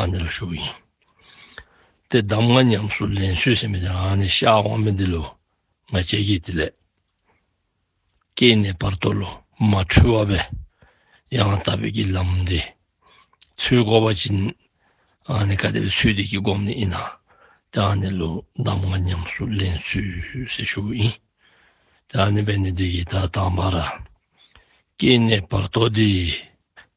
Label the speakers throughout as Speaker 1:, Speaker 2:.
Speaker 1: ཨ་ནི་ལ་ཞུགས་ཡིན། དེ་གདམས་ངག་ཉམས་སུ་ལེན་སུས་ཟིན་པ་དེ་ཨ་ནི་ཤ་འོག་མིན་འདི་ལོ། ང་བཅད་ཀྱིས་དེ་ལས། སྐྱེས་ནས་བར་དོ་ལོ་མ་འཁྲུལ་བ་བས། ཡང་ལྟ་བོད་ཀྱི་ལམ་འདི། ཚུལ་དགོ་བ་སྦྱིན། ཨ་ནི་བཀའ་སྡེ་བའི་ཚུལ་འདི་ཀྱི་སྒོམ་ནི་ཨི་ན། དེ་ཨ་ནི་ལོ་གདམས་ངག་ཉམས་སུ་ལེན་སུས་ཟིན་ཞུགས་ཡིན། དེ་ཨ་ནི་བས་ནི་འདི་ཡི་དྭགས་དང་བར། སྐྱེས་ནས་བར་དོ་འདི།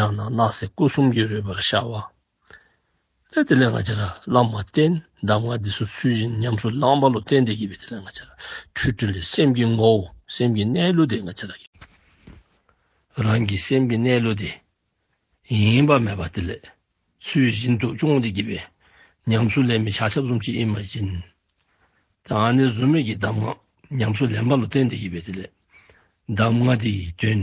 Speaker 1: ཡང་ན་སྣག་ཚའི་སྐུ་གསུམ་གྱིས་རོལ་པར་བྱ་བ། སླད་དེ་ལས་སྔ་རྗེས་བླ་མ་རྟེན་གདབ་སྔགས་འདི་སོགས་ཚུལ་བཞིན་ཉམས་སུ་བླངས་པ་ལོ་སྟེ་འདས་ཀྱི་བའི་དེ་ལས་སྔ་རྗེས་ཁྲུས་ཁྲུས་ལས་སེམས་ཀྱི་ངོ་བོ་སེམས་ཀྱི་གནས་ལུགས་དེ་སྔ་རྗེས་རང་གི་སེམས་ཀྱི་གནས་ལུགས་དེ་ཡེངས་པ་མེད་པར་དེ་ལས་ཚུལ་བཞིན་དུ་སྤྱོང་འདས་ཀྱི་བའི་ཉམས་སུ་ལེན་པའི་བྱ་ཆབ་གསུམ་གྱིས་ཨེ་མ་བྱིན། ཡང་ན་གཟུགས་མེད་ཀྱི་གདམས་ངག་ཉམས་སུ་ལེན་པ་ལོ་སྟེ་འདས་ཀྱི་བའི་དེ་ལས་གདམས་ངག་འདིའི་དོན་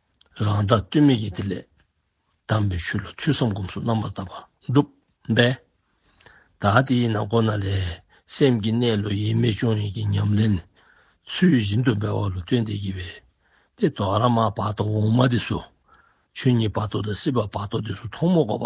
Speaker 1: རང་རྟགས་རྟུལ་མེད་ཀྱི་དེ་ལས། གདམས་པའི་ཤུལ་ལ་ཐོས་བསམ་སྒོམ་གསུམ་རྣམ་པར་དག་པ་འགྲུབ། འབད། ད་དེས་ན་སྒོ་ན་ལས། སེམས་ཀྱི་གནས་ལུགས་ཡེངས་མེད་སྤྱོད་ཡུལ་གྱི་ཉམས་ལེན། ཚུལ་བཞིན་དུ་འབད་བ་ལ་སྟོན་ཏེ་བགྱི་བའི། ཏེ། དོ་ཧ་ར་མ་བར་དོ་འོག་མ་དེ་སུ། ཆོས་ཉིད་བར་དོ་དང་སྲིད་པ་བར་དོ་དེ་སུ་ཐོག་མ་འགོག་པ།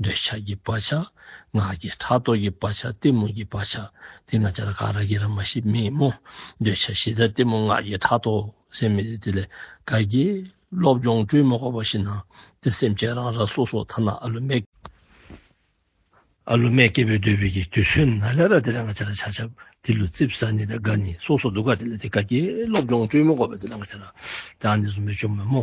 Speaker 1: འདོད་ཆགས་ཀྱི་བག་ཆགས། ངག་གི་ཕྲག་དོག་གི་བག་ཆགས་གཏི་མུག་གི་བག་ཆགས། དེས་ན་འཆར་ཀ་ར་གི་ར་མ་ཤི་མི་མོ། འདོད་ཆགས་བཞི་དང་གཏི་མུག་ངག་གི་ཕྲག་དོག་སེམས་མེད་དེ་དེ་ལས་ག་གེ། སློབ་སྦྱོང་སྤྲུལ་མ་གོ་བ་ཤི་ན། དེ་སེམས་ཅན་རང་ར་སོ་སོ་ཐ་ན་ཨ་ལུ་མས། ཨ་ལུ་མས་སྐྱེ་བོའི་འདོད་པའི་གི་དུས་སུན་ན་ལས་ར་དེ་ལས་ང་འཆར་ཆགས་ཆགས་དེ་ལུས་རྩིབ་ས་ནི་དང་ག་ནི་སོ་སོ་འདུག་ག་དེ་ལས་དེ་ག་གེ་སློབ་སྦྱོང་སྤྲུལ་མ་གོ་བ་དེ་ལས་ང་འཆར་ཀ་ར་དེ་ཨ་ནི་གཟུགས་མེད་ཅོ་མོ་མོ།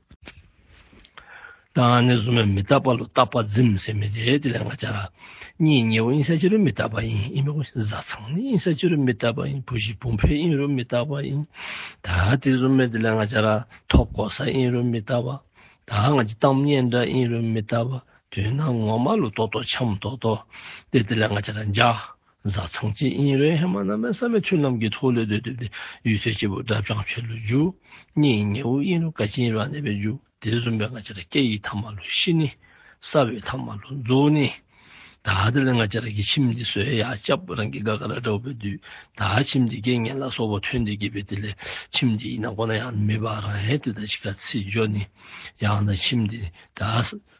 Speaker 1: དང་ནི་གཟུགས་མེད་མི་རྟག་པ་ལ་རྟག་པ་འཛིན་སེམས་མི་བདེ་དེ་ལས་ང་རྒྱལ་ར་གཉིས་ཉེ་བོ་དབྱིངས་ས་ཅི་རུ་མི་རྟག་པ་ཡིན་དབྱིངས་མེད་བཟའ་ཚང་ནི་དབྱིངས་ས་ཅི་རུ་མི་རྟག་པ་ཡིན་བུ་བཞི་བུམ་བུའི་དབྱིངས་རུ་མི་རྟག་པ་ཡིན་ད་དེ་གཟུགས་མེད་དེ་ལས་ང་རྒྱལ་ར་ཐོག་ཀོ་ས་དབྱིངས་རུ་མི་རྟག་པ་ད་ང་ཅི་བཏང་སྙན་སྒྲ་དབྱིངས་རུ་མི་རྟག་པ་དུས་སྣང་ངོ་མ་ལུགས་ལྡོག་ལྡོག་ཆམ་ལྡོག་ལྡོག་སྟེ་དེ་ལས་ང་རྒྱལ་ར་འཇའ། བཟའ་ཚང་གཅིག་དབྱིན་རེན་ཧེ་མ་རྣམ་པའི་ས་མི་ཐུ་རྣམས་ཀྱི་ཐོག་ལས་དོན་སྒྲུབ་སྟེ་ཡུལ་ཚོའི་སྐྱེ་བོ་གྲབས་བྱང་ཆོས་ལུགས་རྒྱུ་གཉིས་ཉེ་དབུས་དབྱིན་རུ་ཀ་ཅིན་རང་གནས་པའི་རྒྱུ་དེ་གསུམ་པའི་ང་ཅ་ར་སྐད་ཡིག་ཐ་མ་ལོ་བཞི་ནི་ས་བོད་ཐ་མ་ལོ་མཛོ་ནི་ད་དེ་ལས་ང་ཅ་ར་གི་ཁྱིམ་འདི་བཟོས་ཡག་སྐྱབས་རང་གི་དགའ་ག་ར་འདྲ་བོ་བོད་དུས་ད་ཁྱིམ་འདི་དགེ་བསྙེན་ལ་སོགས་པ་ཐོན་འདི་གི་བོད་དེ་ལས་ཁྱིམ་འདི་ཡིན་ན་གོ་ན་ཡང་མི་བ་རང་ཧེ་དེ་ད་ཅི་ག་ཚིག་འཇོག་ནི་ཡང་ད་ཁྱིམ་འདི་ད།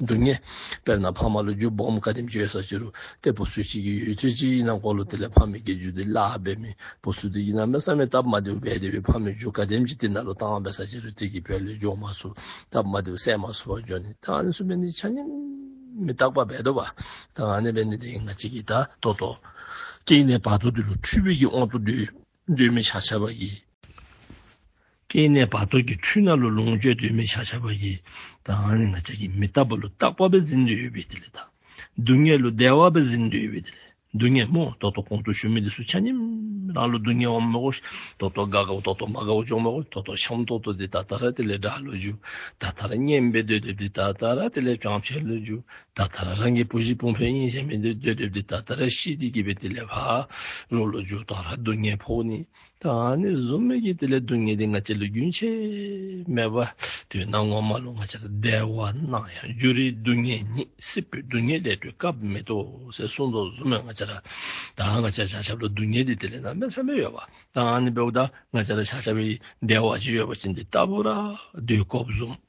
Speaker 1: འདུག་ངེས། དཔེར་ན་ཕ་མ་ལོ་རྒྱུས་སྦོམ་དགའ་དེམ་བརྗོད་ས་ཅི་རུ་བལྟས་བུ་སུ་གཅིག་གིས་ཡོད་ཚོད་ཅི་ཡིན་ནམ་གོ་ལོ་དེ་ལས་ཕ་མེས་ཀྱི་རྒྱུ་དེ་བརླག་བས་མིན་བུ་སུ་དེ་ཡིན་ན་མེ་ས་མེ་སྟབས་མ་བདེ་བུ་བས་བདེ་བའི་ཕ་མེས་རྒྱུ་དགའ་དེམ་གཅིག་དེ་ན་ལོ་བཏང་བས་ས་ཅི་རུ་བལྟས་ཀྱི་བས་ལོས་རྒྱུ་མ་སུ་སྟབས་མ་བདེ་བུ་སད་མ་སུ་བ་འཇོག་ནི་ད་ང་ནི་སུ་བས་ནི་ཆ་ནི་མི་རྟག་པ་བས་དོ་བ་ད་ང་ནི་བས་ནི་དེ་ང་གཅིག་གིས་ད་དོ་དོ། གཅིག་ནས་བར་དོ་དེ་རུ་འཁྲུལ་བས་ཀྱི་དབང་དུ་འདུས། གདོད་མའི་བྱ་བྱ་བ་ཡིས། སྐྱེ་གནས་བར་དོ་ཀྱི་འཁྲུལ་སྣང་ལ་ལོངས་སྤྱོད་གདོད་མའི་བྱ་བྱ་བ་ཡིས། དང། ང་ཅག་གིས་མི་རྟག་པ་ལ་རྟག་པ་བས་ཟིན་འདོད་ཡོད་པས་དེ་ལས་དང། སྡུག་བསྔལ་ལ་བདེ་བ་བས་ཟིན་འདོད་ཡོད་པས་དེ་ལས་སྡུག་བསྔལ་མོ། རྟོག་རྟོག་གོང་དུ་བཞུགས་མི་དེ་སུ་ཆ་ནིམ། རང་ལ་སྡུག་བསྔལ་བ་མི་གོ། རྟོག་རྟོག་དགའ་དགའ་བོ་རྟོག་རྟོག་མ་དགའ་བོ་ཅོག་མི་གོ། རྟོག་རྟོག་ཤམ་རྟོག་རྟོག་དེ་ད་ལྟ་ར་དེ་ལས་དགྲ་བློ་འཇུག། ད་ལྟ་ར་སྙེམས་པའི་འདོད་འདོད་དེ་ད་ལྟ་ར་དེ་ལས་བྱང་ཆེན་བློ་འཇུག། ད་ལྟ་རང་གི་བུ་གཞིས་སྤུངས་ཕོད་གཉིས་ཅན་མི་འདོད་འདོད་འདོད་དེ་ད་ལྟ་ར་གཞིས་ཀྱི་སྐྱིད་པའི་དེ་ལས་བག་རོ་ལོ་རྒྱུགས་དང་ར་སྡུག་བསྔལ་ཕོག་ནི་ད་ནི་བཟོ་མོད་ཀྱི་དེ་ལས་སྡུག་བསྔལ་དེ་ང་ཅི་ལོ་རྒྱུན་ཆད་མེད་པ་དུས་ནམ་ངོ་མ་ལོ་ང་ཅི་ལ་བདེ་བ་སྣང་ཡང་རྒྱུ་རིའི་སྡུག་བསྔལ་ཉིད་སྲིད་པོའི་སྡུག་བསྔལ་ལས་གྲོལ་སྐབས་མེད་དོ་ཟེར་གསུངས་སོ་བཟོ་མོད་ང་ཅི་ལ་ད་ང་ཅི་ལ་བྱ་ཆབ་ལ་སྡུག་བསྔལ་དེ་དེ་ལས་ནང་པའི་བསམ་པས་ཡོད་པ་ད་ནི་བོད་ད་ང་ཅི་ལ་བྱ་ཆབ་བདེ་བ་ཅི་ཡོད་པ་ཅི་འདི་ལྟ་བུ་ར་སྡུག་ཁོབ་བཟོ་མོད།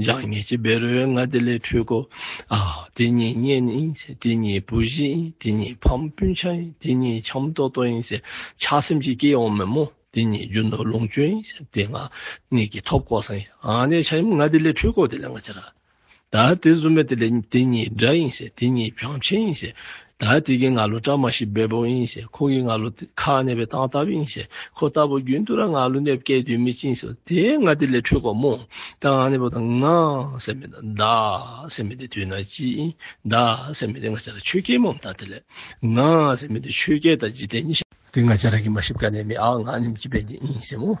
Speaker 1: ལྗགས་བསྙེས་ཀྱི་བེ་རོའི་སྔ་ལྟས་ལས་འཕྲོས་སྒོ། དེ་གཉིས་བསྙེས་ནི་ཡིན་ཟེར་དེ་གཉིས་བུ་བཞི་ཡིན་དེ་གཉིས་ཕམ་སྤུན་ཆ་ཡིན་དེ་གཉིས་ཁྱམས་ལྟོག་ལྟོག་ཡིན་ཟེར་ཆགས་སེམས་ཀྱིས་སྐྱེས་ཡོང་མི་མོ་དེ་གཉིས་རྒྱུ་ནོར་ལོངས་སྤྱོད་ཡིན་ཟེར་དེ་སྔ་གཉིས་ཀྱི་ཐོབ་ལྐོག་ཟ་ཡིན་དེ་ཆ་ཡིན་སྔ་ལྟས་ལས་འཕྲོས་སྒོ་དེ་ལས་སྔ་ཆ་ར། ད་དེ་བཟོ་མེད་དེ་ལས་དེ་གཉིས་དགྲ་ཡིན་ཟེར་དེ་གཉིས་བྱང་ཆེན་ཡིན་ཟེར། ད་དེ་གིས་ང་ལོ་བཀྲ་མ་ཤིས་པའི་བུ་ཡིན་ཞེས་ཁོང་གིས་ང་ལོ་ཁ་གནས་པའི་སྟངས་ལྟ་བུ་ཡིན་ཞེས་ཁོ་ལྟ་བུ་རྒྱུན་དུ་ར་ང་ལོ་གནས་སྐད་དུས་མི་ཅིན་ཞོ་དེ་ང་དེ་ལས་འཕྲོས་གོ་མོ་ད་ང་གནས་པོ་དང་ང་སེམས་མེད་ད་ད་སེམས་མེད་དེ་དུས་ན་ཅི་ཡིན་ད་སེམས་མེད་དེ་ང་ཅ་ར་ཆོས་སྐྱེས་མོ་ད་དེ་ལས་ང་སེམས་མེད་དེ་ཆོས་སྐྱེས་ད་ཇི་སྟེ་གཉིས་ཤེས། དེ་ང་ཅ་ར་གིས་མ་ཤི་བཀའ་ནས་མི་ཨ་ང་ནི་མཆི་བས་འདི་ཡིན་ཞེས་མོ་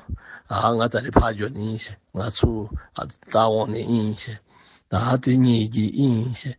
Speaker 1: ཨ་ང་ད་རི་ཕ་ཇོ་ནི་ཡིན་ཞེས་ང་ཚུ་ཨ་ད་འོང་ནི་ཡིན་ཞེས་ད་དེ་གཉིས་ཀྱིས་ཡིན་ཞེས།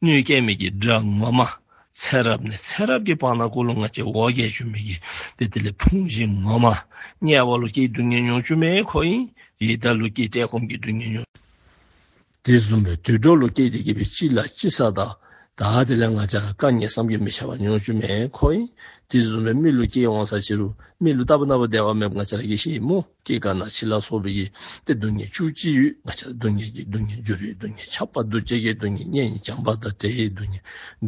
Speaker 1: སྣོད་སྐྱེ་མེད་ཀྱི་སྦྲང་མ་མ། ཚེ་རབས་ནས་ཚེ་རབས་ཀྱི་བར་ན་ཀུན་སློང་ལྔ་སྐྱེ་འོག་རྒྱལ་བཅུ་མེད་ཀྱི་དེ་དེ་ལས་ཕུང་བཞི་ངོ། མ་དམྱལ་བ་ལོ་སྐྱེའི་སྡུག་བསྔལ་མྱོང་བཅུ་མེད་ཁོ་ཡིན། ཡི་དྭགས་ལོ་སྐྱེས་བཀྲེས་སྐོམ་གྱི་སྡུག་བསྔལ་མྱོང། དེ་གསུམ་པའི་དུད་འགྲོ་ལོ་སྐྱེས་དེ་སྐྱེས་པའི་ཅི་ལ་ཅི་ས་དག་དག་དེ་ལས་ང་ཅག་ལ་བཀའ་ཉན་བསམ་གྱིས་མི་ཁྱབ་པ་མྱོང་བཅུ་མེད་ཁོ་ཡིན། དེ་གསུམ་པའི་མི་ལོ་སྐྱེས་འོང་ས་ཅི་རུ་མི་ལོ་རྟ་བབས་སྣ་བ་བདེ་བ་མེད་པ་ང་ཅག་ལ་ཡེ་ཤེས་ཡི་མུག། སྐྱེ་རྒ་ན་འཆི་ལ་སོགས་པའི་ཡིད་བདེ་སྡུག་བསྔལ་བཅུ་གཅིག་ཡུལ་ང་ཆར་སྡུག་བསྔལ་གྱི་སྡུག་བསྔལ་རྒྱུ་རུས་སྡུག་བསྔལ་ཆགས་པ་འདུ་བྱེད་ཀྱི་སྡུག་བསྔལ་གཉེན་ཉེ་བྱམས་པ་དང་བྲལ་ཡས་སྡུག་བསྔལ་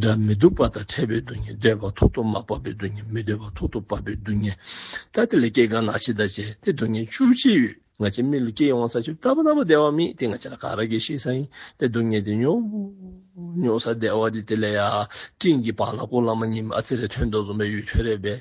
Speaker 1: སྒྲ་མི་སྡུག་པ་དང་ཕྲད་པའི་སྡུག་བསྔལ་འདོད་པ་ཐོག་ཏུ་མ་བབས་པའི་སྡུག་བསྔལ་མི་འདོད་པ་ཐོག་ཏུ་བབས་པའི་སྡུག་བསྔལ། ལྟ་དེ་ལས་སྐྱེ་རྒ་ན་འཆི་དང་བཅས་ཏེ་སྡུག་བསྔལ་བཅུ་གཅིག་ཡུལ་ང་ཆེན་མི་ལ་སྐྱེ་ཡོང་ས་ཆུ་ཟླ་བ་ན་བ་བདེ་བ་མིན་ཏེ་ང་ཆ་ལ་ག་ར་གི་ཤི་ས་ཡིན་ཏེ་སྡུག་བསྔལ་དེ་མྱོང་ས་བདེ་བ་དེ་དེ་ལས་ཡ་སྤྲིན་གྱི་བང་ལ་སྐུ་བླ་མ་ཉི་མ་ཨ་ཙི་རའི་དོན་རྟོགས་འཛུམ་པའི་ཡུལ་ཁྱོད་རེད་པས།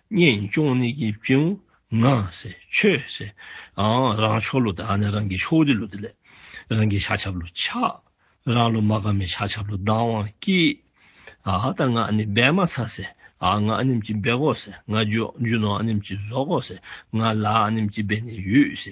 Speaker 1: གཉེན་སྐྱོང་ནི་ཀྱི་བཅིང་བུ་ང་སེ་ཆོས་སེ་ཨང་རང་ཕྱོགས་ལོ་དང་ནི་རང་གི་ཕྱོགས་རི་ལོ་དེ་ལས་རང་གི་ཤ་ཆབ་ལོ་ཆ་རང་ལོ་མ་ག་མའི་ཤ་ཆབ་ལོ་བདང་བང་སྐྱི་ཨ་ད་ང་ནི་སྦས་མ་ཚ་སེ་ཨང་ང་ནིམ་ཀྱི་སྦས་གོ་སེ་ང་རྒྱུ་རྒྱུ་ནོ་ཨ་ནིམ་ཀྱི་བཟོ་གོ་སེ་ང་ལ་ཨ་ནིམ་ཀྱི་སྦས་ནི་ཡུས་སེ་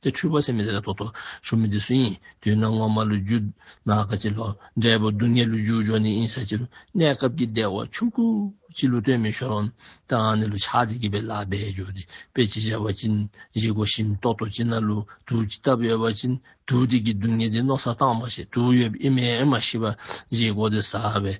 Speaker 1: དེ་འཁྲུལ་པ་སེམས་མི་ཟད་རྟོག་ཏུ་ཆུག་མི་དེ་སུ་ཡིན་དུས་ན་སྔོན་མ་ལོ་རྒྱུས་ན་ག་ཅི་ལོ་འབྲས་བུ་སྡུག་བསྔལ་ལུས་འཇུག་འཇོག་ནི་ཨིན་ས་ཅི་ལོ་གནས་སྐབས་ཀྱི་བདེ་བ་ཆུང་ཁུ་ཅི་ལོ་སྟོན་མི་ཤོར་བམ་དང་ནི་ལོ་ཆགས་དེ་སྐྱིད་པའི་ལག་པས་འཇུག་དེ་དཔེ་ཅི་བྱ་བ་ཅི་བཞེད་གོ་ཞིམ་རྟོག་ཏུ་ཅི་ན་ལུ་དུག་ཅི་ལྟ་བུ་ཡོད་པ་ཅི་དུག་དེ་ཀྱི་སྡུག་བསྔལ་དེ་རྣོ་ས་དྭངས་མ་ཞེས་དུག་ཡོད་པའི་དབྱིབས་མེད་མ་ཞི་བ་བཞེད་གོ་དེ་ཟ་བའི་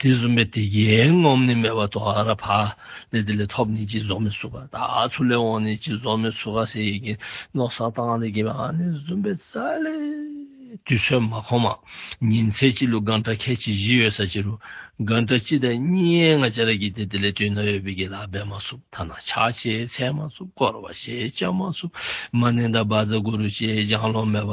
Speaker 1: དྲི་བཟུང་བའི་དེ་རྒྱས་རྔོག་ནི་མེ་བ་དོ་ཨ་ར་བྷ་ལས་དེ་ལས་ཐོབ་ནི་ཅི་བཟོ་མི་སུ་ག་ད་ཚུ་ལས་འོང་ནི་ཅི་བཟོ་མི་སུ་ག་ཟེ་ཡི་གིན་ནོག་ས་ཏང་ལས་གྱེས་པའང་ནི་བཟུང་བའི་ས་ལས་དུས་ཚོད་མ་ཁོ་མ་ཉིན་ཚེ་གཅིག་ལུ་གང་དྲ་ཁད་ཅི་བཞི་ཡོད་ས་ཅི་རུ་གང་དྲ་གཅིག་དང་གཉིས་ཡན་ང་ཅ་ར་གྱིས་དེ་དེ་ལས་དུས་ན་ཡོད་པའི་གྱི་ལ་སྦས་མ་སུབ་ཐ་ན་ཆ་ཆེ་ཚད་མ་སུབ་སྐོར་བ་ཞེས་བྱ་མ་སུབ་མ་ནན་ད་བ་ཛ་གུ་རུ་ཅེས་ལྗང་ལོ་མེ་བ་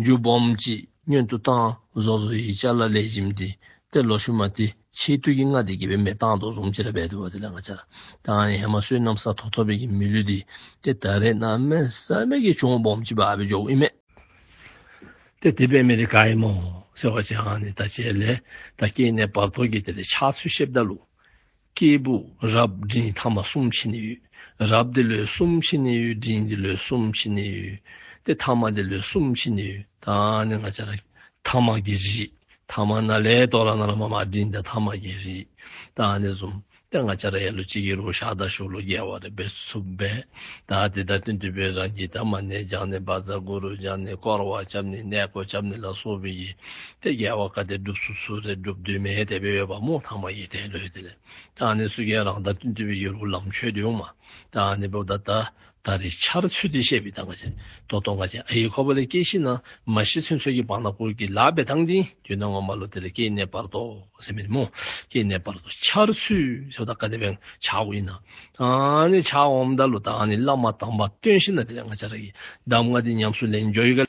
Speaker 1: རྒྱུ་སྦོམ་གྱིས་སྙོན་དུ་བཏང། བཟོ་བཟོ་ཡིས་ལྕགས་ལ་ལས་བྱིན་ཏེ། དེར་ལོ་ཞུ་མ་སྟེ་ཕྱིའི་དུས་ཀྱི་སྔགས་འདི་དགེ་བའི་མེ་བཏང་དུག་གསུམ་ཅི་ར་བས་དུ་བ་དེ་ལ་སྔགས་འཆར། དང་ཡང་མ་སྲུས་གནམ་ས་ཐོག་ཐོག་བས་ཀྱི་མི་ལུས་འདི། དེ་ད་རེས་ན་མེ་ས་མེད་ཀྱི་བྱུང་སྦོམ་གྱིས་བ་བས་འཇོག་ཨི་མེད། དེ་དེ་བས་མེ་རི་ག་ཨི་མོ། ཟེར་བ་ཅན་འང་ནི་ད་བྱས་ལས་ད་སྐྱེས་ནས་བར་དོ་གྱིས་དེ་ལས་ཆགས་ཚུལ་ཤེས་བདག་ལུགས། སྐྱེས་བུ་རབ་འབྲིང་ཐ་མ་གསུམ་ཕྱི་ནས་ཡོད། རབ་འདི་ལོའི་གསུམ་ཕྱི་ནས་ཡོད་འབྲིང་འདི་ལོའི་གསུམ་ཕྱི་ནས་ཡོད། དེ་ཐ་མ་འདི་ལོའི་གསུམ་ཕྱི་ནས་ཡོད། ད་ནི་ང་ཅག་ལ་ཐ་མ་གི་རིགས། ཐ་མ་ན་ལས་རྟོག་ལ་ན་ལ་མ་མ་འབྲིང་འདི་ཐ་མ་གི་རིགས། ད་ནི་གསུམ་སྟེ་ང་ཅག་ལ་ཡ་ལོ་གཅིག་གི་རུ་ཤག་དང་ཤུག་ལོ་བརྒྱད་བར་དུ་བེད་ཚུབ་པས། ད་དེ་ལྟར་སྟོན་དུས་བོད་རང་གི་དར་མ་ནས་རྒྱང་ནས་འབར་རྫ་གུ་རུ་རྒྱང་ནས་སྐོར་བ་བྱབ་ནས་གནས་སྐོར་བྱབ་ནས་ལ་སོགས་བོད་ཀྱི་དེ་རྒྱལ་བ་བཀའ་གཏེར་སྒྲུབ་སོ་སོ་དེ་སྒྲུབ་འདུན་མའི་དད་པས་ཡོད་པ་མོ་ཐང་མ་ཡི་དད་འདོད་དེ་ལས་ཀྱང་ནི་སུ་རྒྱལ་རང་བདག་བདུད་འདུལ་བའི་ཡུལ་དབུ་ལམ་ཆོས་འདུལ་མ་དང་ནི་བུདྡྷ་ད་ད་རི་ཆར་ཚུལ་འདི་བཤད་པའི་ད་ག་ཅན་དོ་དོ་ག་ཅན་ཨ་ཡིག་ཁོ་བོ་ལས་སྐྱེས་ཤི་ན་མ་ཤི་ཚུན་ཚོད་ཀྱི་བང་ན་བསྐུར་གྱི་ལག་པས་ཐང་ཅིང་དུས་ན་ངོ་མ་ལོ་དེ་ལ་སྐྱེས་གནས་བར་དོ་ཟེར་མི་རི་མོ་སྐྱེས་གནས་བར་དོ་ཆར་ཚུལ་ཚོད་ད་ག་དེ་བན་བྱ་འོ་ཡིན་ན་ནི་བྱ་འོ་མདའ་ལོ་དང་ནི་བླ་མ་དང་པ་སྟོན་ཤི་ན་དེ་ལས་ང་བྱ་ར་གི་འདམ་ང་དེ་ཉམས་སུ་ལེན་འཇོ་ཡི་ག།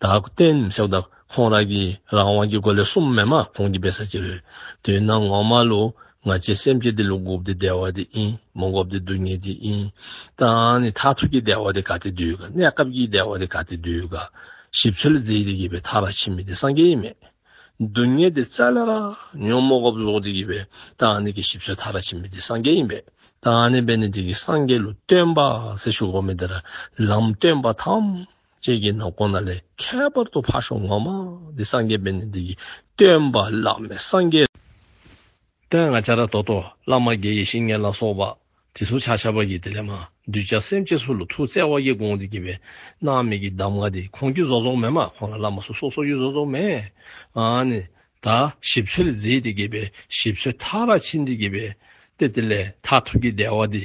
Speaker 1: བདག་བསྟེན་ཤ་བདག་ཁོང་རང་གི་རང་དབང་གི་སྒོ་ལས་གསུམ་མེད་མ་ཁོང་གི་བེ་ས་ཅི་རེད་དུས་ན་ངོ་མ་ལོ་ང་ཅི་སེམས་ཅི་དེ་ལུག་རྒུབ་དེ་བདེ་བ་དེ་ཨིན་མོ་འགོབ་དེ་སྡུག་ཉེ་དེ་ཨིན་ཏང་ནི་མཐའ་ཐུག་གི་བདེ་བ་དེ་ག་དེ་དུས་ག་གནས་སྐབས་ཀྱི་བདེ་བ་དེ་ག་དེ་དུས་ག་ཞིབ་ཚོལ་རྫིས་དེ་གི་བའི་ཐ་ར་ཕྱི་མི་དེ་སངས་རྒྱས་མེད་སྡུག་ཉེ་དེ་ཙལ་ལ་ར་ཉོན་མོ་འགོབ་ཟོག་དེ་གི་བའི་ཏང་ནི་གི་ཞིབ་ཚོལ་ཐ་ར་ཕྱི་མི་དེ་སངས་རྒྱས་ཡིན་པས་ཏང་ནི་བའི་ནི་དེ་གི་སངས་རྒྱས་ལུགས་སྟོན་པ་སེ་ཤུག་བོ་མི་དེ་ར་ལམ་སྟོན་པ་ཐམས། ཅད་ཀྱི་ནང་གོང་ན་ལས་ཁྱད་པར་དུ་ཕར་ཞོག་ངོ་མ་འདི་སངས་རྒྱས་པས་ནི་འདི་ཡི་སྟོན་པ་བླ་མེད་སངས་རྒྱས། སྟོན་ང་ཅཱ་ར་ཏོ་ཏོ་བླ་མ་དགེ་ཡེ་ཤེས་ལྔས་ལ་སོགས་པ་དེ་གཟུགས་ཆགས་ཆགས་པ་ཀྱི་དེ་ལས་མ་འདུས་བྱ་སེམས་ཅན་སུ་ལ་ཐུགས་བརྩེ་བ་ཡིས་དགོངས་ཏེ་བགྱིས་པའི་སྣང་མེད་ཀྱི་གདམས་ངག་དེ་གོང་རྒྱུད་རྫོགས་རྫོགས་མེད་མ་གོང་ན་བླ་མ་སོ་སོ་སོ་རྒྱུད་རྫོགས་རྫོགས་མེད་དག་ཞིབ་ཚོལ་མཛད་དེ་དགེ་བའི་ཞིབ་ཚོལ་མཐའ་རག་ཕྱིན་དེ་དགེ་བའི་སྟེ་དེ་ལས་མཐར་ཐུག་གི་བདེ་བ་དེ།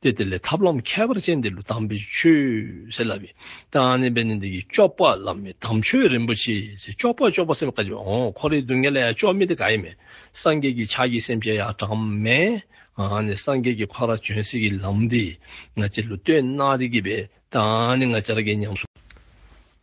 Speaker 1: སྟེ་དེ་ལས་ཐབས་ལམ་ཁྱད་པར་ཅན་འདི་ལུས་དམ་པའི་ཆོས་ཟེར་ལ། དང་ནི་པའི་ནི་འདི་ཀྱི་ཅོག་པ་ལ་མི་དམ་ཆོས་རིན་པོ་ཆེ་ཞེས་ཅོག་པ་ཅོག་པ་སེམས་དཔའ་བཀའ་བརྒྱད་འོང་འཁོར་རིགས་བདུན་ལྔས་ལ་ཡང་ཅོག་མི་འདི་ག་ཡིན་མིན་སངས་རྒྱས་ཀྱི་ཕྱག་གི་སེམས་ཅན་ཡང་གྲངས་མེད་དང་ནི་སངས་རྒྱས་ཀྱི་འཁོར་ར་བྱོན་སྲིད་ཀྱི་ལམ་འདི་ང་ཅི་ལུས་སྟོད་ན་རིགས་ཀྱི་པའི་དང་ནི་ང་ཅར་ཀྱི་ཉམས་སུ་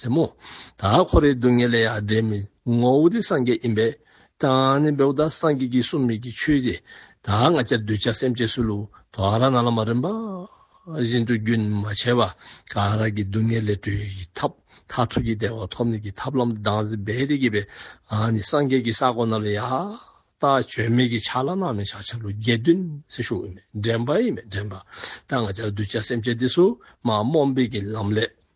Speaker 1: ཟེར་མོ། ད་ཁོ་རེ་སྡུག་བསྔལ་ལས་ཡ་འདྲེ་མི་ངོ་བོ་དེ་སངས་རྒྱས་ཡིན་པས། ད་ནི་བེའུ་ད་སངས་རྒྱས་ཀྱི་གསུང་མིག་གི་ཆོས་དེ། ད་ང་ཅག་གདུལ་བྱ་སེམས་ཅན་སུ་ལུག་ད་ར་ན་ལ་མ་རིན་པ། བཞིན་དུ་རྒྱུན་མ་ཆད་པ་ག་ར་གི་སྡུག་བསྔལ་ལས་གྲོལ་བའི་ཐབས་མཐར་ཐུག་གི་བདེ་བ་ཐོབ་ནས་ཀྱི་ཐབས་ལམ་དུ་ལྡང་ཟིན་པས་དེ་གྱིས་པས་ད་ནི་སངས་རྒྱས་ཀྱི་ས་དགོ་རྣམས་ལ་ཡ། ད་བྱོལ་མེད་ཀྱི་ཆ་ལ་ནང་མི་ཆག་ཆ་ལུག་བརྒྱད་བདུན་སེ་ཤུག་ཡིན་མེད་འདྲེན་པ་ཡིན་མེད་འདྲེན་པ། ད་ང་ཅག་གདུལ་བྱ་སེམས་ཅན་འདི་སུ་མ་རྨོངས་པའི་གྱི་ལམ་ལས།